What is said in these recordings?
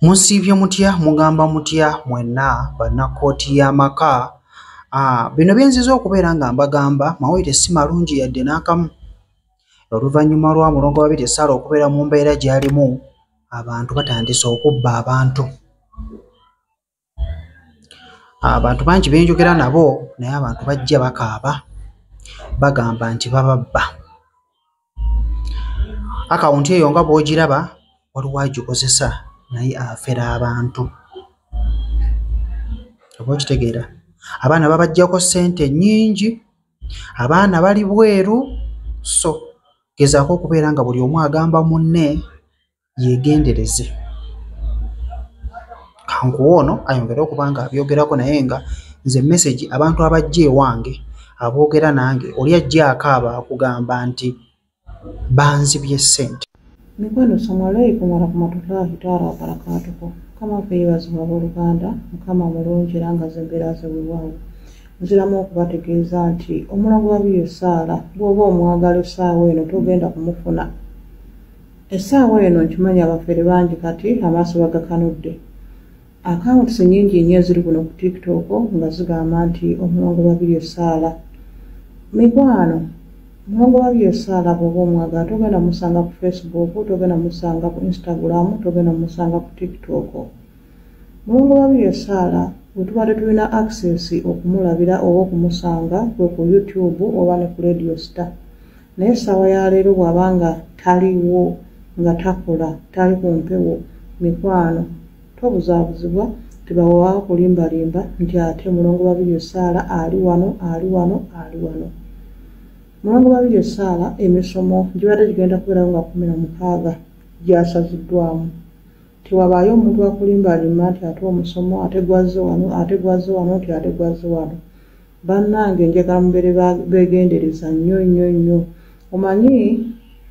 Musiibye mutya mugamba mutya mwenna bannakkooti y'amaka ah, bino byenziza okubeera nga mbagamba mawulire si malungi yadde n'akamu oluvannyuma lwa mulongo babiri esaala okubeera mu mbeera gy'alimu abantu batandise okubba abantu abantu bangi benjogera nabo naye abantu bajja bakaaba bagamba nti bababba akawunti eyo nga bwogiraba waliwo agikozesa naye afera abantu oba okitegeera abaana babajjako ssente nyingi abaana bali bweru so gezaako okubeera nga buli omu agamba munne yegendereze kankuwa ono ayongere okuba nga abyogerako naye nga nze message abantu abajja ewange aboogera nange oli ajja akaaba akugamba nti banzibye ssente mikwano salamu alaikum warahmatullahi taala wabarakatuhu mukama kweyebaziba abooluganda mukama mulungi era nga zembeera zewewaawo nziramu okubategeeza nti omulango wa biyo saala bwoba omwagala esaawa eno togenda kumufuna essaawa eno nkimanyi abafere bangi kati amaaso bagakanudde akawunti sinyingi nnyo eziri kuno ku tiktok nga zigamba nti omulongo babiri esaala mikwano omulongo babiri esaala bwoba omwaga togenda musanga ku facebook togenda musanga ku instagram togenda musanga ku tiktok mulongo babiri esaala wetubadde tulina access okumulabira oba okumusanga kwe ku youtube oba ne ku radio star naye essaawa ya leero bw'aba nga taliwo nga takola tali ku mpewo mikwano tobuzaabuzibwa tebawa kulimbalimba nti ate mulongo babiri essaala ali wano ali wano ali wano mulongo babiri essaala emisomo gibadde gigenda kubeerawo nga kumi na mukaaga gyasaziddwamu tewabaayo omuntu wakulimbalimba nti ate omusomo ate gwazze wano ate gwazze wano nti ate gwazze wano bannange njagala mubere begendereza nnyo nnyo nnyo omanyi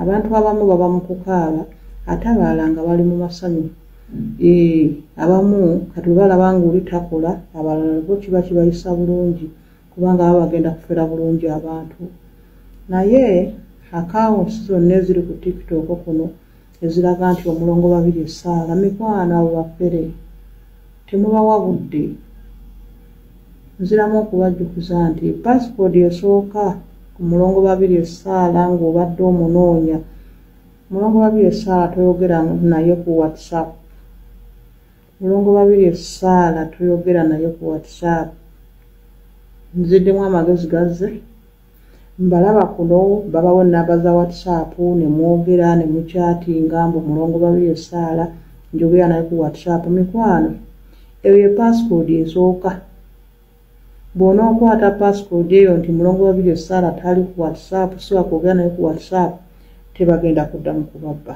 abantu abamu baba mu kukaaba ate abalala nga bali mu masanyu ee abamu kati webalaba nga oli takola abalala bo kiba kibayisa bulungi kubanga baba bagenda kufera bulungi abantu naye akawunsi zonna eziri ku tiktok kuno eziraga nti omulongo babiri esaala mikwano abo bafere temubawa budde nziramu okubajjukiza nti pasipodi esooka ku mulongo babiri esaala ng'obadde omunoonya mulongo babiri esaala toyogera naye ku whatsapp mulongo babiri esaala toyogera naye ku whatsapp nziddemu amagezi gazze mbalaba kuno babawo enamba za whatsapp nemwogera nemukyatinga mbu mulongo babiri esaala njogera naye ku whatsapp mikwano eyo ye passcode esooka bwona okwata passcode eyo nti mulongo babiri esaala tali ku whatsapp siwa kwogera naye ku whatsapp tebagenda kuddamu kubabba